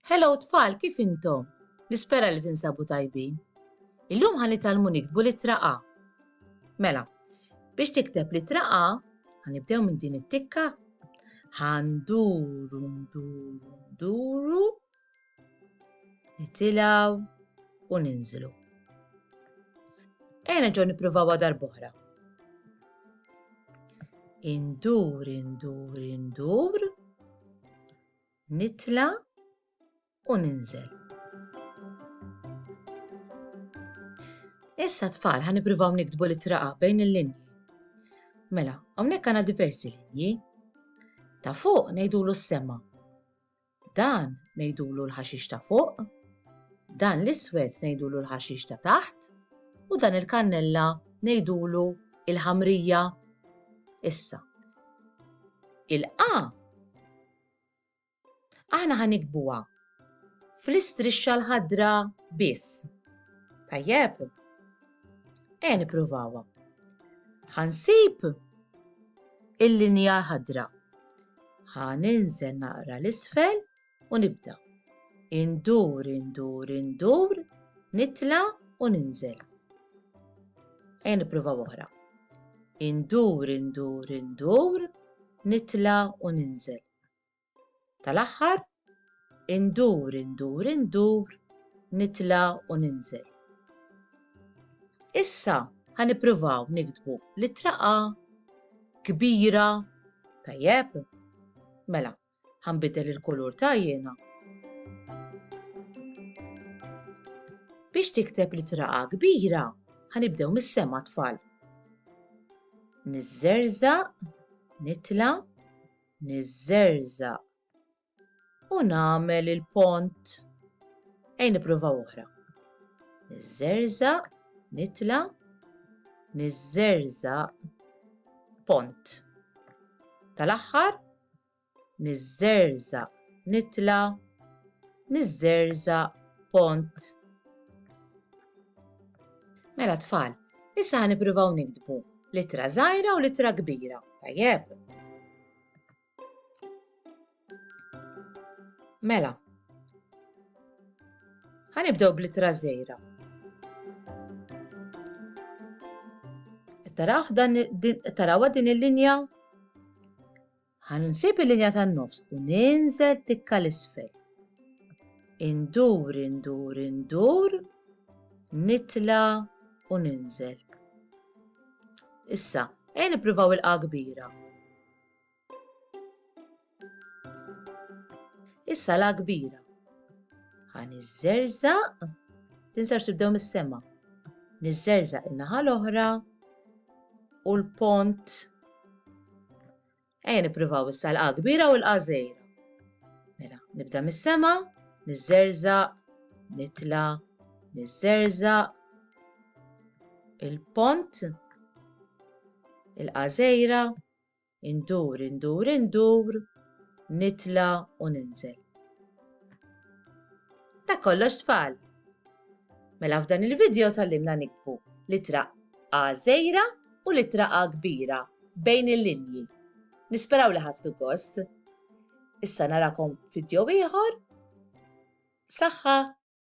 Hello tfal, kif intom? Nispera li tinsabu tajbin. Illum ħan nitalmu nikdbu l-ittra A. Mela, biex tikteb l-ittra A, ħanibdew minn din it-tikka. Ħanduru, nduru, nduru, nitilaw u ninżlu. Ejna ġo nippruvaw għadar boħra. Indur, indur, indur. nitla' u ninżel. Issa tfal ħa nippruvaw niktbu l-ittra A bejn il-linji. Mela, hawnhekk għandna diversi linji. Ta' fuq ngħidulu s-sema. Dan ngħidulu l-ħaxix ta' fuq. Dan l-iswed ngħidulu l-ħaxix ta' taħt. U dan il-kannella ngħidulu il-ħamrija. Issa, il-A Aħna ħa nikbuha fl-istrixxa l-ħadra biss. Tajjeb? Ejja nippruvawha. Ħa nsib il-linja ħadra. Ħa ninżel naqra l-isfel u nibda. Indur, indur, indur, nitla u ninżel. Ejja nippruvaw oħra. Indur, indur, indur, nitla' u ninżel. Tal-aħħar, indur, indur, indur, nitla' u ninżel. Issa ħa nippruvaw niktbu littra A kbira, tajjeb? Mela, Ħa nbiddel il-kulur ta' għajnejha. Biex tikteb littra A kbira, ħa nibdew mis-sema tfal. Niżżerżaq, nitla', niżżerżaq u nagħmel il-pont. Ejn nippruvaw oħra. Niżżerżaq, nitla', niżżerżaq, pont. Tal-aħħar niżżerżaq nitla' niżżerżaq pont. Mela tfal, issa ħa nippruvaw niktbu l-ittra żgħira u l-ittra kbira, tajjeb? Mela, ħa nibdew bl-ittra żgħira. Taraw din il-linja? Ħan nsib il-linja tan-nofs u ninżel tikka l-isfel. Indur, indur, indur, nitla u ninżel. Issa, ejn nippruvaw il-qa kbira. Is-sala kbira. Ħa niżżerżaq, tinsewx tibdew mis-sema. Niżżerżaq in-naħa l-oħra u l-pont. Ejja nippruvaw issa l-qa kbira u l-qa żejra. Mela, nibda mis-sema, niżżerżaq, nitla, niżżerżaq, il-pont, il-qa żejra, Indur, indur, indur, nitla' u ninżel. Dak kollox tfal! Mela f'dan il-vidjo tgħallimna niktbu l-ittra A żgħira u l-ittra A kbira bejn il-linji. Nisperaw li ħadtu gost. Issa narakom f'vidjo ieħor. Saħħa!